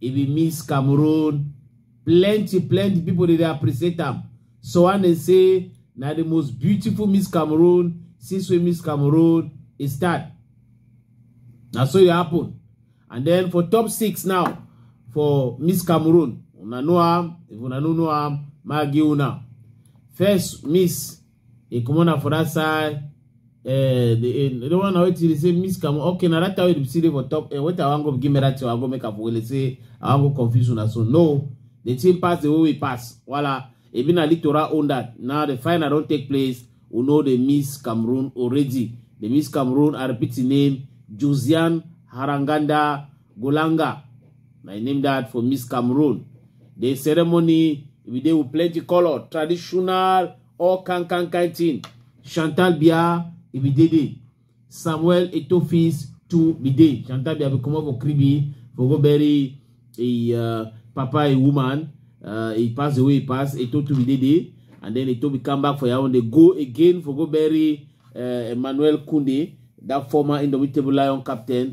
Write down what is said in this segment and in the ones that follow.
e be miss cameroon plenty plenty people dey dey appreciate am so one dey say na the most beautiful miss cameroon since wey miss cameroon e start na so e happen and then for top six now for miss cameroon una know am if una no know am ma give una first miss e comot na for that side eh the eh, the one na wetin dey say miss kamu okay na that time wey dey see dey for top eh wetin i wan go give me that thing i go make am for wele say i wan go confuse una so no the thing pass the way we pass wala ebi na litora own that now the final don take place we know they miss cameroon already they miss cameroon i repeat the name josian haranganda Golanga, my name that for Miss Cameroon. The ceremony, we dey with plenty color, traditional, all kind kind kind thing. Chantal Bia, e be dey there. Samuel Etofis to be there. Chantal Bia be comot for Kribi for go bury a uh, papa, a woman. Uh, he passed away, he passed. Eto to be dey there. And then Eto be come back for Yaounde. They go again for go bury uh, Emmanuel Kunde, that former Indomitable Lion captain.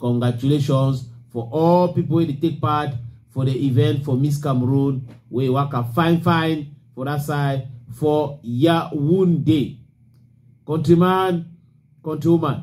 Congratulations for all people wey dey take part for the event for Miss Cameroon wey waka fine fine for that side for Yaounde. Countryman, countrywoman,